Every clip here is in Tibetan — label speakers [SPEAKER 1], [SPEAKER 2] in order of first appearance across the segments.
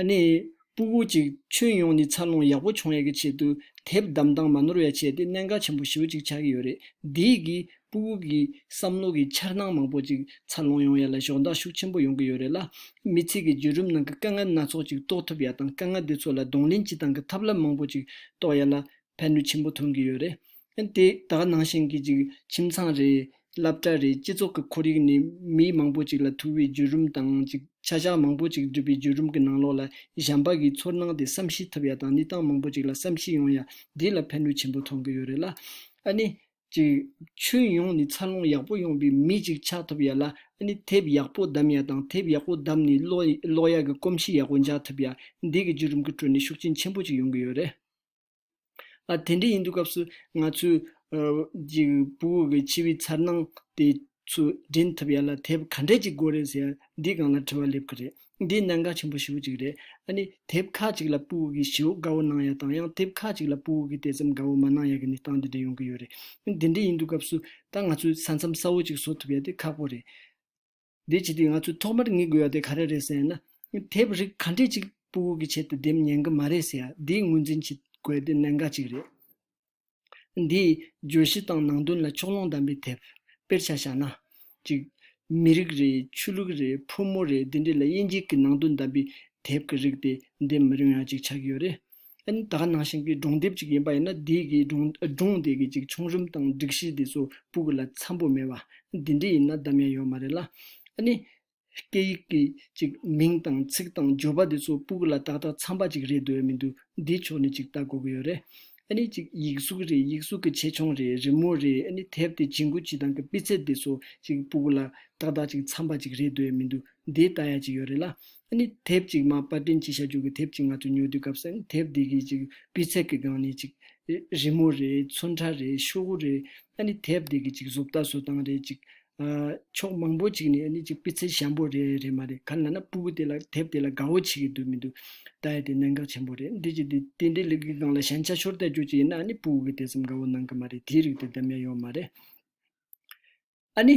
[SPEAKER 1] ཨ་ནེ། སྤུ་བོ་ཅིག་ཁྱོད་ཡོང་ནི་འཚར་ལོངས་ཡག་པོ་བྱུང་ཡས་ཀྱི་ཆེད་དུ་དེབ་བདམས་སྟངས་མ་ནོར་ཡ་བྱས་ཏེ་གནད་འགག་ཆེན་པོ་བཞི་བོ་ཅིག་ཆགས་ཀྱི་ཡོད་རེད་དེ་ཡིག་གིས་སྤུ་བོ་གི་བསམ་བློ་གི་འཆར་སྣང་མང་པོ་ཅིག་འཚར་ལོངས་ཡོང་ཡས་ལ་གཞོགས་འདག་ཤུགས་ཆེན་པོ་ཡོང་གི་ཡོད་རེད་ལ། མི་ཚིག་གི་བརྒྱུད་རུམ་ནང་གི་དཀའ་ངལ་སྣ་ཚོགས་ཅིག་རྟོགས་ཐུབ་ཡས་དང་དཀའ་ངལ་དེ་ཚོ་ལ་གདོང་ལེན་བྱེད་སྟངས་ཀྱི་ཐབས་ལམ་མང་པོ་ཅིག་རྟོགས་ཡས་ལ་ཕན་ནུས་ཆེན་པོ་ཐོན་གྱི་ཡོད་རེད་ཡང་དེ་དག་ནང་བཞིན་གྱི་ཅིག་ཁྱིམ་ཚང་རེད། སླབ་གྲྭ་རེད་སྤྱི་ཚོགས་ཀྱི་ཁོར་ཡུག་ནི་མི་མང་པོ་ཅིག་ལ་ཐུག་པའི་བརྒྱུད་རིམ་དང་ཅིག་བྱ་བཞག་མང་པོ་ཅིག་སྒྲུབ་པའི་བརྒྱུད་རིམ་གྱི་ནང་ལོགས་ལ་གཞན་པ་གིས་ཚོར་སྣང་དེ་བསམ་ཤེས་ཐུབ་ཡ་དང་གནས་སྟངས་མང་པོ་ཅིག་ལ་བསམ་ཤེས་ཡོང་ཡ་དེ་ལ་ཕན་ནུས་ཆེན་པོ་ཐོང་གི་ཡོད་རེད་ལ། ཨ་ནི། ཅིག་ཁྱོན་ཡོངས་ནས་འཚར་ལོངས་ཡག་པོ་ཡོང་པའི་མི་ཅིག་ཆགས་ཐུབ་ཡ་ལ་ཨ་ནི་དེབ་ཡག་པོ་བདམས་ཡ་དང་དེབ་ཡག་པོ་བདམས་ནས་ཀློག་ཡ་གི་གོམས་གཤིས་ཡག་པོ་འཇགས་ཐུབ་ཡ་འདིའི་བརྒྱུད་རིམ་གྱི་ཁྲོད་ནས་ཤུགས་རྐྱེན་ཆེན་པོ་ཅིག་ཡོང་གི་ཡོད་རེད། ཨ། དེ་འདྲ་ཡིན་དུས་སྐབས་སུ་ང་ཚོའི། པུ་གུ་གི་འཆི་བའི་མཚར་སྣང་དེ་ཚོ་དྲན་ཐུབ་ཡ་ལ་དེ་བབ་ག་འདྲས་ཀྱི་སྒོ་རེད་ཟེར་ཡ་འདི་གང་ལ་དྲི་བ་སླེབས་ཀི་རེད། འདི་གནད་འགག་ཆེན་པོ་ཞེ་བོ་ཅིག་རེད། ཨ་ནི། དེབ་ཁག་ཅིག་ལ་པུ་གུ་གི་ཞེ་བོ་དགའ་བོ་གནང་ཡ་དང་ཡང་དེབ་ཁག་ཅིག་ལ་པུ་གུ་གི་དེ་ཙམ་དགའ་བོ་མ་གནང་ཡ་གི་ནི་སྟངས་འདི་འདྲ་ཡོང་གི་ཡོད་རེད། དེ་འདྲས་ཡིན་དུས་སྐབས་སུ་ད་ང་ཚོས་ས་མཚམས་གསར་བོ་ཅིག་བཟོ་ཐུབ་ཡ་དེ་ཁག་པོ་རེད། དེ་བྱས་དུས་ང་ཚོས་ཐོག་མར་ངེས་དགོས་པ་དེ་ག་རེ་རེད་ཟེར་ན། དེབ་རིགས་ག་འདྲས་ཅིག་སྤུ་བོ་གི་ཆེད་དུ་འདེམས་ཉན་གི་མ་རེད་ཟེར་ཡ་དེའི་ངོས་འཛིན་བྱེད་དགོས་དེ་གནད་འགག་ཅིག་རེད། འདིས། བརྗོད་གཞི་དང་ནང་དོན་ལ་ཕྱོགས་ལྷུང་དམ་པའི་དེབ། དཔེར་ཆ་བཞག་ན། གཅིག། མི་རིགས་རེད་ཆོས་ལུགས་རེད་ཕོ་མོ་རེད་འདི་འདྲས་ལ་དབྱེ་འབྱེད་ཀྱི་ནང་དོན་དམ་པའི་དེབ་ཀྱི་རིགས་དེ་འདེམས་མི་རུང་ཡ་ཅིག་ཆགས་ཀྱི་ཡོད་རེད། ཨན་ད་ནང་བཞིན་གྱི་སྒྲུང་དེབ་ཅིག་ཡིན་པ་ཡིན་ན་དེའི་གི་སྒྲུང་དེ་གི་ཅིག་ཆུང་རིམ་དང་སྒྲིག་གཞི་དེ་ཚོ་པུ་གུ་ལ་འཚམ་པོ་མེད་པ། དེ་འདྲས་ཡིན་ན་གདམ་ཡ་ཡོད་མ་རེད་ལ། ཨནི། སྐད་ཡིག་གི་ཅིག་མིང་དང་ཚིག་དང་བརྗོད་པ་དེ་ཚོ་པུ་གུ་ལ་ཏག་ཏག་འཚམ་པ་ཅིག་རེད་འདོད་མི་འདུག་འདི་ཕྱོགས་ནས་ཅིག་ལྟ་དགོས་ཀྱི་ཡོད་རེད། ཨནི་ཅིག་ཡིག་གཟུགས་རེད་ཡིག་གཟུགས་གི་ཆེ་ཆུང་རེད་རི་མོ་རེད་ཨནི་དེབ་དེ་བྱིན་གུ་བྱི་དང་གི་སྤི་ཚད་དེ་ཚོ་ཅིག་པུ་གུ་ལ་ཏག་ཏག་ཅིག་འཚམ་པ་ཅིག་རེད་འདོད་མི་འདུག་འདི་ལྟ་ཡ་ཅིག་ཡོད་རེད་ལ། ཨ་ནི་དེབ་ཅིག་མ་པར་སྐྲུན་བྱེད་བྱ་རྒྱུ་གི་དེབ་ཅིག་ང་ཚོས་ཉོ་དུས་སྐབས་སམ་དེབ་འདི་གི་ཅིག་སྤུས་ཚད་གི་སྒང་ནས་ཅིག། རི་མོ་རེད་ཚོན་ཁྲ་རེད་ཤོག་བུ་རེད། ཨ་ནི་དེབ་འདི་གི་ཅིག་བཟོ་ལྟ་བཟོ་སྟངས་རེད་ཅིག། ཕྱོགས་མང་པོ་ཅིག་ནས་ཨ་ནི་ཅིག་སྤུས་ཚད་ཞན་པོ་རེད་རེད་མ་རེད་ག་ལ་ན་སྤུ་བོ་དེ་ལ་དེབ་དེ་ལ་དགའ་བོ་བྱེད་གི་འདུག་མི་འདུག་ད་ཡ་དེ་གནད་འགག་ཆེན་པོ་རེད་འདི་ཅིག་དེ་དེ་འདྲའི་ལུགས་ཀྱི་སྒང་ལ་ཞན་ཆ་ཤོར་ལྟ་རྒྱུ་ཅིག་ཡིན་ན་ཨ་ནི་སྤུ་བོ་གི་དེ་ཙམ་དགའ་བོ་གནང་གི་མ་རེད་དེའི་རིགས་དེ་འདམ་ཡ་ཡོད་མ་རེད། ཨ་ནི།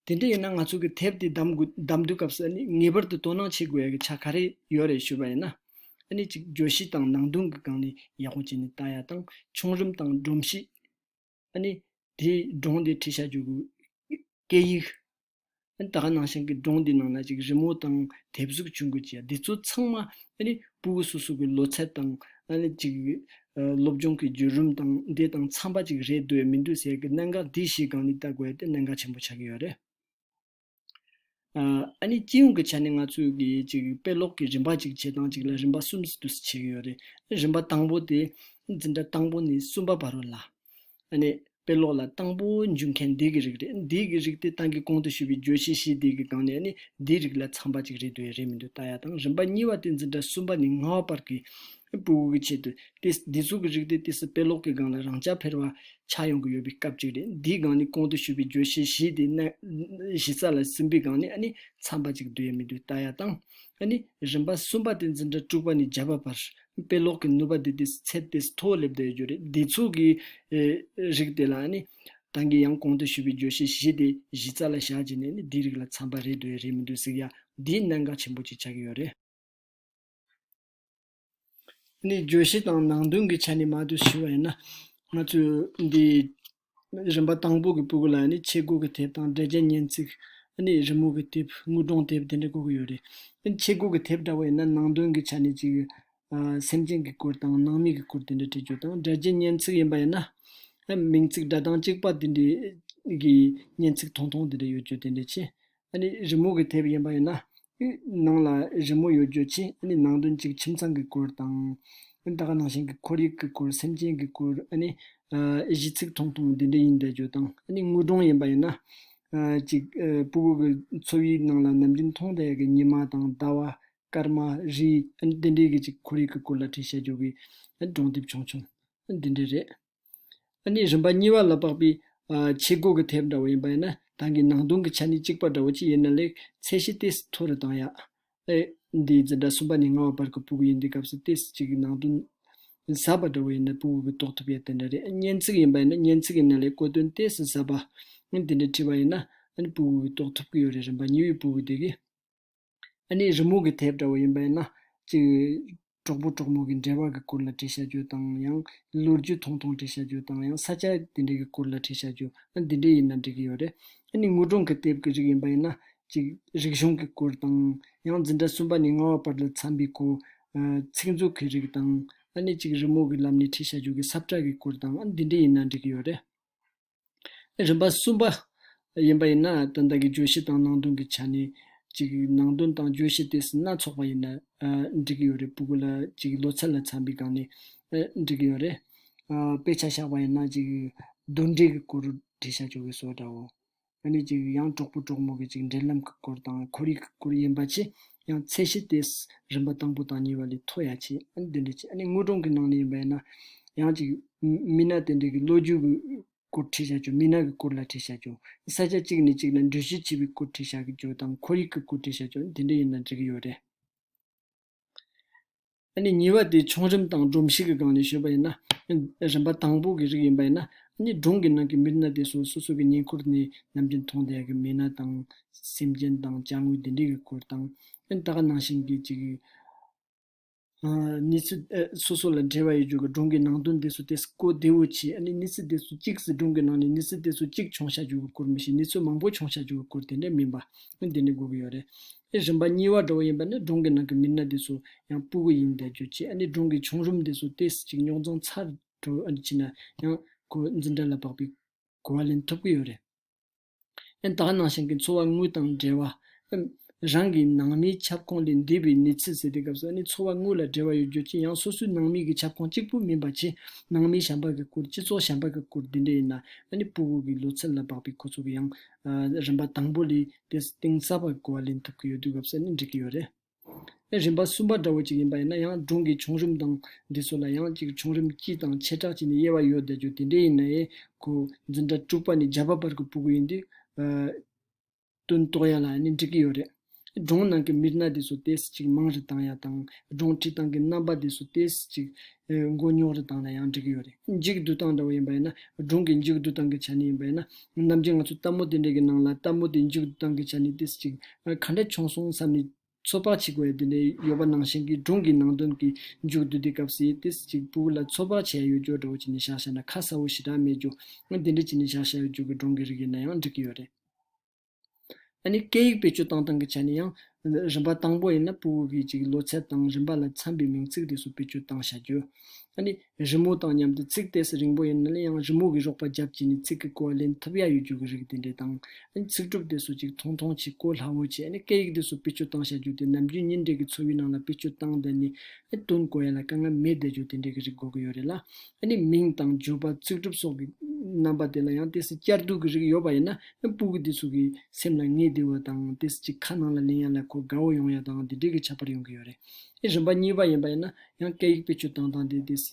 [SPEAKER 1] དེ་འདྲ་ཡིན་ན་ང་ཚོ་གི་དེབ་དེ་བདམ་དགོས་སྐབས་སུ་ཨ་ནི་ངེས་པར་དུ་དོ་སྣང་བྱེད་དགོས་ཀྱི་ཆ་ག་རེ་ཡོད་རེད་ཞུས་པ་ཡིན་ན། ཨ་ནི་གཅིག་བརྗོད་གཞི་དང་ནང་དོན་གྱི་སྒང་ནས་ཡག་པོ་བྱས་ནས་ལྟ་ཡ་དང་ཆུང་རིམ་དང་སྒྲོམ་གཞི། ཨ་ནི། དེ་སྒྲོང་དེ་བྲིས་བྱ་རྒྱུ་གུ། སྐད་ཡིག། ཨ་ནི་ད་ག་ནང་བཞིན་གྱི་སྒྲོང་དེ་ནང་ན་གཅིག་རི་མོ་དང་དེབ་གཟུགས་བྱུང་དགོས་ཀྱི་ཡ་འདི་ཚོ་ཚང་མ་ཨ་ནི་སྤུ་བོ་སོ་སོ་གི་ལོ་ཚད་དང། ཨ་ནི་གཅིག། སློབ་སྦྱོང་གི་བརྒྱུད་རིམ་དང་འདི་དང་འཚམ་པ་ཅིག་རེད་འདོད་མི་འདོད་ཟེར་གི་གནད་འགག་འདི་གཞི་གང་ནས་བལྟ་དགོས་ཏེ་གནད་འགག་ཆེན་པོ་ཆགས་ཀྱི་ཡོད་རེད། ཨ་ནི་སྤྱི་ཡོངས་ཀྱི་ཆ་ནས་ང་ཚོས་གི་གཅིག་དཔེ་ཀློག་གི་རིམ་པ་གཅིག་བྱེད་སྟངས་གཅིག་ལ་རིམ་པ་གསུམ་ཟིན་དུ་བྱས་ཀྱི་ཡོད་རེད། རིམ་པ་དང་པོ་དེ། འཛིན་གྲྭ་དང་པོ་ནས་གསུམ་པ་བར་རོ་ལ། ཨ་ནི། དཔེ་ཀློག་ལ་དང་པོ་འཇུག་མཁན་འདི་གི་རིགས་རེད། འདི་གི་རིགས་དེ་ཏང་གིས་གོང་དུ་ཞུས་པའི་བརྗོད་གཞི་བཞི་དེ་གི་སྒང་ནས་ནི་འདིའི་རིགས་ལ་འཚམ་པ་ཅིག་རེད་འདོད་ཡ་རེད་མི་འདོད་ལྟ་ཡ་དང་རིམ་པ་གཉིས་པ་དེ་འཛིན་གྲྭ་གསུམ་པ་ནས་ལྔ་བ་བར་གྱི་པུའུ་གི་ཆེད་དུ། དེ་འདི་ཚོ་གི་རིགས་དེ་དེ་སྲིད་དཔེ་ཀློག་གི་སྒང་ལ་རང་རྐྱ་འཕེར་བ་ཆགས་ཡོང་གི་ཡོད་པའི་སྐབས་ཅིག་རེད་འདིའི་སྒང་ནི་གོང་དུ་ཞུས་པའི་བརྗོད་གཞི་བཞི་དེ་གཞི་རྩ་ལ་ཟིན་པའི་སྒང་ནས་ཨ་ནི་འཚམ་པ་ཅིག་འདོད་ཡ་མི་འདོད་ལྟ་ཡ་དང། ཨ་ནི། རིམ་པ་གསུམ་པ་དེ་འཛིན་གྲྭ་དྲུག་པ་ནས་བརྒྱད་པ་བར་དཔེ་ཀློག་གི་ནུས་པ་དེ་དེ་ཚད་དེ་མཐོ་བོ་སླེབས་བསྡད་ཡོད་རྒྱུ་རེད། བདེ་ཚུགས་ཀྱི་རིགས་དེ་ལ་ནི། ཏང་གིས་ཡང་གོང་དུ་ཞུས་པའི་བརྗོད་གཞི་བཞི་དེ་གཞི་རྩ་ལ་བཞག་རྗེས་ནས་ནི་འདིའི་རིགས་ལ་འཚམ་པ་རེད་འདོད་རེད་མི་འདོད་གཟིགས་ཡ། འདིའི་གནད་འགག་ཆེན་པོ་གཅིག་ཆགས་ཀྱི་ཡོད་རེད། འདིའི་བརྗོད་གཞི་དང་ནང་དོན་གྱི་ཆ་ནས་མ་བསྡུར་ཞུས་པ་ཡིན་ན། ང་ཚོས་འདིའི་རིམ་པ་དང་པོ་གི་སྤུ་གུ་ལ་ནི་ཆེ་སྒུག་གི་དེབ་དང་འབྲས་རྒྱན་སྙན་ཚིག། རི་མོ་གི་དེབ་དངུལ་སྒྲོང་དེབ་དེ་འདྲ་བཀོད་ཀྱི་ཡོད་རེད། ཆེ་སྒུག་གི་དེབ་འདྲ་བོ་ཡིན་ན་ནང་དོན་གྱི་ཆ་ནས་གཅིག། སེམས་ཅན་གྱི་སྐོར་དང་ནང་མི་གི་སྐོར་དེ་འདྲ་བྲིས་རྒྱུ་དང་འབྲས་རྒྱན་སྙན་ཚིག་ཡིན་པ་ཡིན་ན། མིང་ཚིག་སྒྲ་གདངས་གཅིག་པ་དེ་འདྲའི་གི་སྙན་ཚིག་ཐུང་ཐུང་དེ་འདྲ་ཡོད་རྒྱུ་དེ་འདྲ་ཆེ། ཨ་ནི་རི་མོ་གི་དེབ་ཡིན་པ་ཡིན་ན། ནང་ལ་རི་མོ་ཡོད་རྗོད་ཕྱིན་ཨ་ནི་ནང་དོན་གཅིག་ཁྱིམ་ཚང་གི་སྐོར་དང། ད་ག་ནང་བཞིན་གྱི་ཁོར་ཡུག་གི་སྐོར་སེམས་ཅན་གྱི་སྐོར་ཨ་ནི། གཞི་ཚིག་ཐུང་ཐུང་འདི་འདྲ་ཡིན་རྗེས་རྗོད་དང་ཨ་ནི་དངོས་སྒྲུང་ཡིན་པ་ཡིན་ན། གཅིག། སྤུ་གུ་གི་འཚོ་བའི་ནང་ལ་ནམ་རྒྱུན་མཐོང་བསྡད་ཀྱི་ཉི་མ་དང་ཟླ་བ། སྐར་མ། རི། ཨ་ནི་དེ་འདྲའི་གི་གཅིག་ཁོར་ཡུག་གི་སྐོར་ལ་བྲིས་བཤད་རྒྱུ་གི། སྒྲུང་དེབ་ཆུང་ཆུང། འདི་འདྲ་རེད། ཨ་ནི་རིམ་པ་གཉིས་པ་ལ་དཔག་པའི། ཆས་སྒོ་གི་ཐེབས་འདྲ་བོ་ཡིན་པ་ཡིན་ན། དང་གི་ནང་དུང་གི་ཆ་ནི་གཅིག་པ་འདྲ་བོ་གཅིག་ཡིན་ན་ལེགས། ཚད་གཞི་སྟེ་མཐོ་རུ་བཏང་ཡ། ཨེ། འདིའི་རྫི་འདྲ་གསུམ་པ་ནི་ལྔ་བ་བར་གི་པུཀུ་ཡིན་འདི་སྐབས་སུ་སྟེ་གཅིག་གི་ནང་དུང། ཟབ་པ་འདྲ་བོ་ཡིན་ན་པུཀུ་གི་རྟོགས་ཐུབ་ཡ་དེ་འདྲ་རེད་སྙན་ཚིག་ཡིན་པ་ཡིན་ན་སྙན་ཚིག་ཡིན་ན་ལེགས་བཀོད་དོན་སྟེ་ཟབ་པ། དེ་འདྲའི་བྲིས་པ་ཡིན་ན། ཨ་ནི་པུཀུ་གི་རྟོགས་ཐུབ་གི་ཡོད་རེད་རིམ་པ་གཉིས་པའི་པུཀུ་དེ་གི། ཨ་ནི་རི་མོ་གི་དེབ་འདྲ་བོ་ཡིན་པ་ཡིན་ན། གཅིག། གྲོགས་པོ་གྲོགས་མོ་གི་འབྲེལ་བ་གི་སྐོར་ལ་བྲིས་བྱ་རྒྱུ་དང་ཡང། ལོ་རྒྱུས་ཐུང་ཐུང་བྲིས་བྱ་རྒྱུ་དང་ཡང་ས་ཆ་དེ་འདྲའི་གི་སྐོར་ལ་བྲིས་བྱ་རྒྱུ། ཨ་འདི་འདྲ་ཡིན་ན་འགྲིག་གི་ཡོད་རེད། ཨ་ནི་དངོས་སྒྲུང་གི་དེབ་གི་རིགས་ཡིན་པ་ཡིན་ན། གཅིག། རིག་གཞུང་གི་སྐོར་དང། ཡང་འཛིན་གྲྭ་གསུམ་པ་ནས་ལྔ་བ་བར་ལ་འཚམས་པའི་གོ། ཚིག་མཛོད་གི་རིགས་དང། ཨ་ནི་གཅིག་རི་མོ་གི་ལམ་ནས་བྲིས་བྱ་རྒྱུ་གི་སབ་བཀྲ་གི་སྐོར་དང་ཨ་འདི་འདྲ་ཡིན་ན་འགྲིག་གི་ཡོད་རེད། རིམ་པ་གསུམ་པ། ཡིན་པ་ཡིན་ན་དོན་དག་གི་བརྗོད་གཞི་དང་ནང་དོན་གྱི་ཆ་ནས། ནང་དོན་དང་བརྗོད་གཞི་དེ་སྣ་ཚོགས་པ་ཡིན་ན། འགྲིག་གི་ཡོད་རེད། བུ་གུ་ལ་ལོ་ཚད་ལ་འཚམ་པའི་སྒང་ནས་འགྲིག་གི་ཡོད་རེད། དཔེ་ཆ་བཞག་པ་ཡིན་ན། གདོན་འདྲེ་གི་སྐོར་འབྲི་ཤ་ཅོ་གས་སོ་འདྲའོ། ཡང་གྲོགས་པོ་གྲོགས་མོ་གི་འབྲེལ་ལམ་གྱི་སྐོར་དང་ཁོར་ཡུག་གི་སྐོར་ཡིན་པ་ཆེས་ཡང་ཚད་གཞི་དེ། རིམ་པ་དང་པོ་དང་གཉིས་པ་ལས་མཐོ་ཡང་ཆེ། ཨ་ནི་དེ་འདྲ་ཆེ། ཨ་ནི་དངོས་སྒྲུང་གི་ནང་ནས་ཡིན་པ་ཡིན་ན། ཡང་ཅིག། མི་སྣ་དེ་འདྲ་གི་ལོ་རྒྱུས་ཀྱི་སྐོར་ཁྲིད་བྱ་རྒྱུ་མི་སྣ་གི་སྐོར་ལ་ཁྲིད་བྱ་རྒྱུ། ས་ཆ་གཅིག་ནས་གཅིག་ལ་འགྲུལ་བཞུད་བྱེད་པའི་སྐོར་ཁྲིད་བྱ་རྒྱུ་དང་ཁོར་ཡུག་གི་སྐོར་ཁྲིད་བྱ་རྒྱུ་དེ་འདྲ་ཡིན་ན་འགྲིག་གི་ཡོད་རེད། གཉིས་པ་དེ་ཆུང་རིམ་དང་སྒྲོམ་གཞི་གི་སྒང་ནས་བཤོལ་བ་ཡིན་ན། རིམ་པ་དང་པོ་གི་རིགས་ཡིན་པ་ཡིན་ན། གཉིས་སྒྲུང་གི་ནང་གི་མི་སྣ་དེ་ཚོ་སོ་སོ་གི་ཉེ་འཁོར་ནས་ནམ་རྒྱུན་མཐོང་བསྡད་ཀྱི་མི་སྣ་དང། སེམས་ཅན་དང་བཅའ་དངོས་དེ་འདྲའི་གི་སྐོར་དང། ད་ག་ནང་བཞིན་གྱི་གཅིག་གི། གནས་ཚུལ་སོ་སོ་ལ་འབྲེལ་བ་ཡོད་རྒྱུ་གི་སྒྲུང་གི་ནང་དོན་དེ་ཚོ་དེ་གོ་བདེ་བོ་བྱས་ནས་གནས་ཚུལ་དེ་ཚོ་གཅིག་གི་སྒྲུང་གི་ནང་ནས་གནས་ཚུལ་དེ་ཚོ་གཅིག་བྱུང་བྱ་རྒྱུ་གི་སྐོར་མི་ཤེས་གནས་ཚུལ་མང་པོ་བྱུང་བྱ་རྒྱུ་གི་སྐོར་དེ་འདྲ་མིན་པ། དེ་འདྲ་དགོས་ཀྱི་ཡོད་རེད། ཨེ་རིམ་པ་གཉིས་བ་འགྲོ་བ་ཡིན་པ་ནི་སྒྲུང་གི་ནང་གི་མི་སྣ་དེ་ཚོ་ཡང་སྤུ་གུ་ཡིན་བསྡད་རྒྱུ་བཅས་ཨ་ནི་སྒྲུང་གི་བྱུང་རིམ་དེ་ཚོ་དེས་ཅིག་རྙོག་འཛིང་ཚ་དྲོ་ཨ་ནི་ཅི་ན་ཡང་གོ་འཛིན་སྒྲ་ལ་བག་པའི་གོ་བ་ལེན་ཐུབ་ཀི་ཡོད་རེད། ཨན་དག་ནང་བཞིན་གྱི་འཚོ་བ་དངོས་དང་འབྲེལ་བ། ཨིན། རང་གི་ནང་མིའི་ཁྱབ་ཁོངས་ལས་འདས་པའི་གནས་ཚུལ་ཟེར་དུས་སྐབས་སུ་ཨ་ནི་འཚོ་བ་དངོས་ལ་འབྲེལ་བ་ཡོད་རྒྱུ་ཅི་ཡང་སོ་སོའི་ནང་མི་གི་ཁྱབ་ཁོངས་གཅིག་པུ་མིན་པ་ཆེ་ནང་མིའི་ཞབས་འབག་གི་སྐོར་སྤྱི་ཚོགས་ཞབས་འབག་གི་སྐོར་འདི་འདྲ་ཡིན་ན་ཨ་ནི་སྤུ་གུ་གི་ལོ་ཚད་ལ་བག་པའི་ཁོ་ཚོ་གི་ཡང་རིམ་པ་དང་པོ་ལས་དེས་གཏིང་ཟབ་པའི་གོ་བ་ལེན་ཐུབ་ཀྱི་ཡོད་དུས་སྐབས་སུ་ནི་འགྲིག་གི་ཡོད་རེད། ཨེ། རིམ་པ་གསུམ་པ་འདྲ་བོ་ཅིག་ཡིན་པ་ཡིན་ན་ཡང་སྒྲུང་གི་བྱུང་རིམ་དང་འབྲི་སྲོལ་ལ་ཡང་གཅིག་བྱུང་རིམ་སྤྱི་དང་བྱེ་བྲག་སྤྱི་ནི་དབྱེ་བ་ཡོད་བསྡད་རྒྱུ་དེ་འདྲའི་ཡིན་ན་ཨེ། གོ། འཛིན་གྲྭ་དྲུག་པ་ནི་བརྒྱ་པ་བར་གྱི་སྤུ་གུ་ཡིན་དུས། སྟོན་ཐོག་ཡན་ལ་ནི་འགྲིག་གི་ཡོད་རེད། སྒྲུང་ནང་གི་མིར་སྣ་དེ་ཚོ་དེས་གཅིག་མང་རེ་བཏང་ཡ་དང་སྒྲུང་བྲིས་སྟངས་ཀྱི་རྣམ་པ་དེ་ཚོ་དེས་གཅིག། མགོ་རྙོག་རུ་བཏང་ན་ཡང་འགྲིག་གི་ཡོད་རེད། འཇིག་རྡུལ་སྟངས་འདྲ་བོ་ཡིན་པ་ཡིན་ན། སྒྲུང་གི་འཇིག་རྡུལ་སྟངས་ཀྱི་ཆ་ནས་ཡིན་པ་ཡིན་ན། རྣམ་འགྱུར་ང་ཚོ་ལྟད་མོ་དེ་འདྲའི་གི་ནང་ལ་ལྟད་མོ་དེ་འཇིག་རྡུལ་སྟངས་ཀྱི་ཆ་ནས་ཏི་སི་ཅིག་ག་འདྲ་བྱུང་སོང་བསམ་ནས་ཚོད་དཔག་བྱེད་དགོས་ཡ་དེ་འདྲའི་ཡོད་པ་ནང་བཞིན་གི་སྒྲུང་གི་ནང་དོན་གི་འཇུག་རྡུལ་དེ་སྐབས་སི་ཏི་སི་ཅིག་པུའུ་ལ་ཚོད་དཔག་བྱེད་ཡ་ཡོད་རྒྱུ་འདྲ་བོ་བྱེད་ནས་བཞག་བཞག་ན་ཁ་གསལ་བོ་ཞེ་དྲག་མེད་རྒྱུ། དེ་འདྲའི་བྱེད་ནས་བཞག་བཞག་ཡོད་རྒྱུ་གི་སྒྲུང་གི་རིགས་ཡིན་ན་ཡང་འགྲིག་གི་ཡོད་རེད། ཨ་ནི་སྐད་ཡིག་བེད་སྤྱོད་བཏང་སྟངས་ཀྱི་ཆ་ནས་ཡང། རིམ་པ་དང་པོ་ཡིན་ན་པུའུ་ཧུའུ་ཀི་གཅིག་ལོ་ཚད་དང་རིམ་པ་ལ་འཚམ་པའི་མིང་ཚིག་རིགས་སུ་བེད་སྤྱོད་བཏང་བྱ་རྒྱུ། ཨ་ནི། རི་མོ་དང་མཉམ་དུ་ཚིག་གཏད་ས་རིང་པོ་ཡིན་ན་ཡང་རི་མོ་གི་རོགས་པ་རྒྱབ་བཅས་ནས་ཚིག་གི་གོ་བ་ལེན་ཐུབ་ཡ་ཡོད་རྒྱུ་གི་རིགས་དེ་འདྲས་དང། ཨ་ནི་ཚིག་གྲུབ་དེ་སུ་གཅིག་མཐོང་མཐོང་བྱས་གོ་སླ་བོ་བྱས་ཨ་ནི་སྐད་ཡིག་དེ་སུ་བེད་སྤྱོད་བཏང་བྱ་རྒྱུ་དེ་ནམ་རྒྱུན་ཉིན་རེ་གི་འཚོ་བའི་ནང་ལ་བེད་སྤྱོད་བཏང་བསྡད་ནས་ཨ་ནི་དོན་གོ་ཡ་ལ་དཀའ་ངལ་མེད་བསྡད་རྒྱུ་དེ་འདྲས་ཀྱི་རིགས་གོ་གི་ཡོད་རེད་ལ། ཨ་ནི་མིང་དང་བརྗོད་པ་ཚིག་གྲུབ་སོགས་ཀྱི་རྣམ་པ་དེ་ལ་ཡང་དེ་སྲིད་བསྐྱར་ཟློས་ཀྱི་རིགས་ཡོད་པ་ཡིན་ན་སྤུ་གུ་དེ་ཚོ་གི་སེམས་ལ་ངེས་བདེ་བ་དང་དེས་ཅི་ཁ་ནང་ལ་ལེན་ཡ་ལ་ཁོ་དགའ་བོ་ཡོང་ཡ་དང་དེ་འདྲས་ཀྱི་ཆ་པར་ཡོང་གི་ཡོད་རེད། རིམ་པ་གཉིས་པ་ཡིན་པ་ཡིན་ན་ཡང་སྐད་ཡིག་བེད་སྤྱོད་སྟངས་དང་དེ་དེས་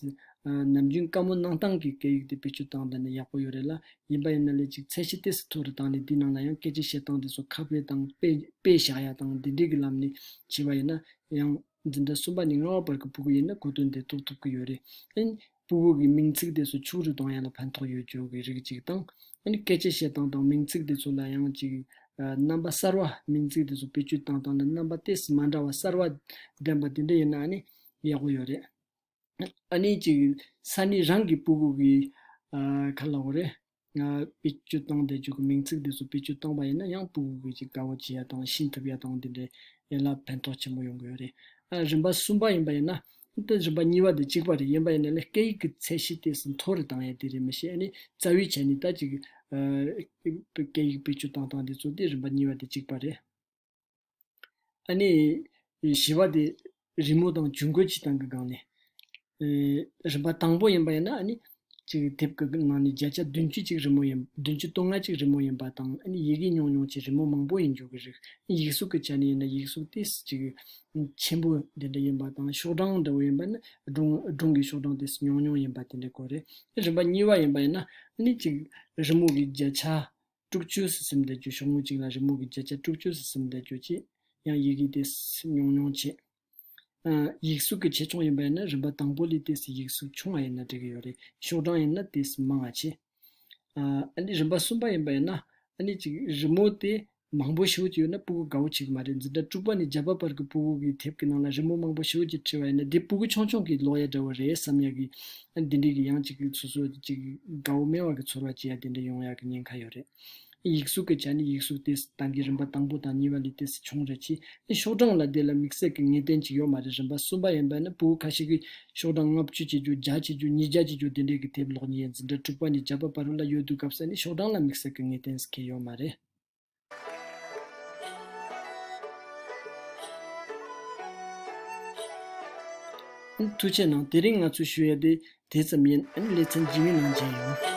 [SPEAKER 1] ནམ་རྒྱུན་དཀའ་མོ་གནང་སྟངས་ཀྱི་སྐད་ཡིག་དེ་བེད་སྤྱོད་སྟངས་དེ་ནི་ཡག་པོ་ཡོད་རེད་ལ་ཡིན་པ་ཡིན་ན་ལས་ཅིག་ཚད་གཞི་དེས་མཐོ་རུ་བཏང་ནས་དེའི་ནང་ལ་ཡང་སྐད་ཆ་བཤད་སྟངས་དེ་ཚོ་ཁ་དཔེ་དང་དཔེ་དཔེ་བཞག་ཡ་དང་དེ་འདྲས་ཀྱི་ལམ་ནས་བྱས་པ་ཡིན་ན་ཡང། འཛིན་གྲྭ་གསུམ་པ་ནས་ལྔ་བ་བར་གྱི་སྤུ་གུ་ཡིན་ན་གོ་དོན་དེ་རྟོགས་ཐུབ་ཀྱི་ཡོད་རེད། སྤུ་བོ་གི་མིང་ཚིག་དེ་ཚོ་ཕྱུགས་རིགས་དང་ཡན་ལ་ཕན་ཐོགས་ཡོད་ཅོག་གི་རིགས་ཅིག་དང། ཡང་སྐད་ཆ་བཤད་སྟངས་དང་མིང་ཚིག་དེ་ཚོ་ལ་ཡང་ཅིག། རྣམ་པ་གསར་བ། མིང་ཚིག་དེ་ཚོ་བེད་སྤྱོད་སྟངས་དང་ལ་རྣམ་པ་དེ་སི་མ་འདྲ་བ་གསར་བ། ལྡན་པ་དེ་འདྲ་ཡོད་ན་ནི་ཡག་པོ་ཡོད་རེད། ཨ་ནི་ཅིག། ས་ནི་རང་གི་སྤུ་བོ་གི། ཁ་ལག་བོ་རེད། དཔེ་ཆུ་སྟོང་བཟླས་བརྗོད་ཀྱི་མིང་ཚིག་འདི་ཚོ་དཔེ་ཆུ་སྟོང་པ་ཡིན་ན་ཡང་པུའུ་བོད་ཀྱི་དགའ་བོ་བྱེད་ཡ་དང་ཤིན་ཐུབ་ཡ་དང་དེ་འདྲའི་ཡན་ལག་ཕན་ཐོགས་ཆེན་པོ་ཡོང་གི་ཡོད་རེད། རིམ་པ་གསུམ་པ་ཡིན་པ་ཡིན་ན། དེ་རིམ་པ་གཉིས་པ་དེ་གཅིག་པ་རེད་ཡིན་པ་ཡིན་ན་ལས་སྐད་ཡིག་གི་ཚད་གཞི་དེ་ཟིན་ཐོ་རུ་བཏང་ཡ་དེ་རེད་མི་ཤེས་ཨ་ནི་རྩ་བའི་ཆ་ནས་ད་ཅིག། སྐད་ཡིག་དཔེ་ཆུ་སྟོང་བཏང་འདི་ཚོ་དེ་རིམ་པ་གཉིས་པ་དེ་གཅིག་པ་རེད། ཨ་ནི། བཞི་བ་དེ། རི་མོ་དང་ཇུས་འགོད་བྱེད་སྟངས་ཀྱི་སྒང་ནས། རིམ་པ་དང་པོ་ཡིན་པ་ཡིན་ན་ཨ་ནི། གཅིག་དེབ་ཀྱི་ནང་ནས་བརྒྱ་ཆ་བདུན་ཅུ་གཅིག་རི་མོ་ཡིན། བདུན་ཅུ་སྟོང་ལྔ་གཅིག་རི་མོ་ཡིན་པ་དང་ཨ་ནི་ཡི་གེ་ཉུང་ཉུང་གཅིག་རི་མོ་མང་པོ་ཡིན་འཇུག་གི་རིགས། ཡིག་གཟུགས་ཀྱི་ཆ་ནས་ཡིན་ན་ཡིག་གཟུགས་དེ་གཅིག། ཆེན་པོ་དེ་འདྲ་ཡིན་པ་དང་ཤོག་གྲངས་འདྲ་བོ་ཡིན་པ་ནི་སྒྲུང་གི་ཤོག་གྲངས་དེ་ཉུང་ཉུང་ཡིན་པ་དེ་འདྲའི་སྐོར་རེད། རིམ་པ་གཉིས་པ་ཡིན་པ་ཡིན་ན་ཨ་ནི་གཅིག་རི་མོ་གི་བརྒྱ་ཆ། དཀྲུག་སྤྱོད་སུ་སིམ་བསྡད་སྤྱོད་ཤོག་ངོས་གཅིག་ལ་རི་མོ་གི་བརྒྱ་ཆ་དཀྲུག་སྤྱོད་སུ་སིམ་བསྡད་སྤྱོད་ཅེས་ཡང་ཡིག་གིས་དེ་སི་མྱོང་མྱོང་བྱེད། ཡིག་གཟུགས་ཀྱི་ཆེ་ཆུང་ཡིན་པ་ཡིན་ན་རིམ་པ་དང་པོ་ལས་དེ་སི་ཡིག་གཟུགས་ཆུང་བ་ཡིན་ན་འགྲིག་གི་ཡོད་རེད་ཤོག་གྲངས་ཡིན་ན་དེ་སི་མང་བ་བྱེད། རིམ་པ་གསུམ་པ་ཡིན་པ་ཡིན་ན། གཅིག་རི་མོ་དེ་མང་པོ་ཞིག་ཡོད་ན་སྤུ་གུ་དགའ་བོ་བྱེད་ཀྱི་མ་རེད་འཛིན་གྲྭ་དཀྲུག་པ་ནི་བརྒྱ་པ་བར་གྱི་སྤུ་གུ་གི་དེབ་ཀྱི་ནང་ལ་རི་མོ་མང་པོ་ཞིག་ཅེས་བྲིས་བ་ཡིན་ན་དེ་སྤུ་གུ་ཆུང་ཆུང་གི་ལོག་ཡ་འདྲ་བོ་རེད་བསམ་ཡག་གི་འདི་འདྲི་གི་ཡང་གཅིག་གིས་སོ་སོ་གཅིག་དགའ་བོ་སྨྲེ་བ་གི་ཚོར་བ་སྐྱེ་ཡ་དེ་འདྲི་ཡོང་ཡག་གི་ཉེན་ཁ་ཡོད་རེད། ཡིག་གཟུགས་གི་ཆ་ནི་ཡིག་གཟུགས་དེས་ཏང་གི་རིམ་པ་དང་པོ་དང་གཉིས་པ་ལས་དེས་བྱུང་རེད་ཀྱི་ནི་ཤོག་གྲངས་ལ་དེ་ལ་དམིགས་བསལ་གི་ངེས་གཏན་གཅིག་ཡོད་མ་རེད་རིམ་པ་གསུམ་པ་ཡིན་པ་ནི་པུའུ་ཁ་ཤིག་གི་ཤོག་གྲངས་ལྔ་བཅུ་བྱེད་རྒྱུ་བརྒྱ་བྱེད་རྒྱུ་ཉིས་བརྒྱ་བྱེད་རྒྱུ་དེ་འདྲའི་གི་དེབ་ལོག་ཉིས་ཡས་འཛིན་གྲྭ་དྲུག་པ་ནས་བརྒྱ་པ་བར་ལ་ཡོད་དུས་སྐབས་སེ་ནི་ཤོག་གྲངས་ལ་དམིགས་བསལ་གི་ངེས་གཏན་གྱི་ཡོད་མ་རེད། ཐུགས་ཆེ་གནང་དེ་རིང་ང་ཚོས་ཞུ་ཡ་དེ་དེ་ཙམ་ཡིན་ལེ་ཚན་རྗེས་མའི་ནང་མཇལ་ཡོང།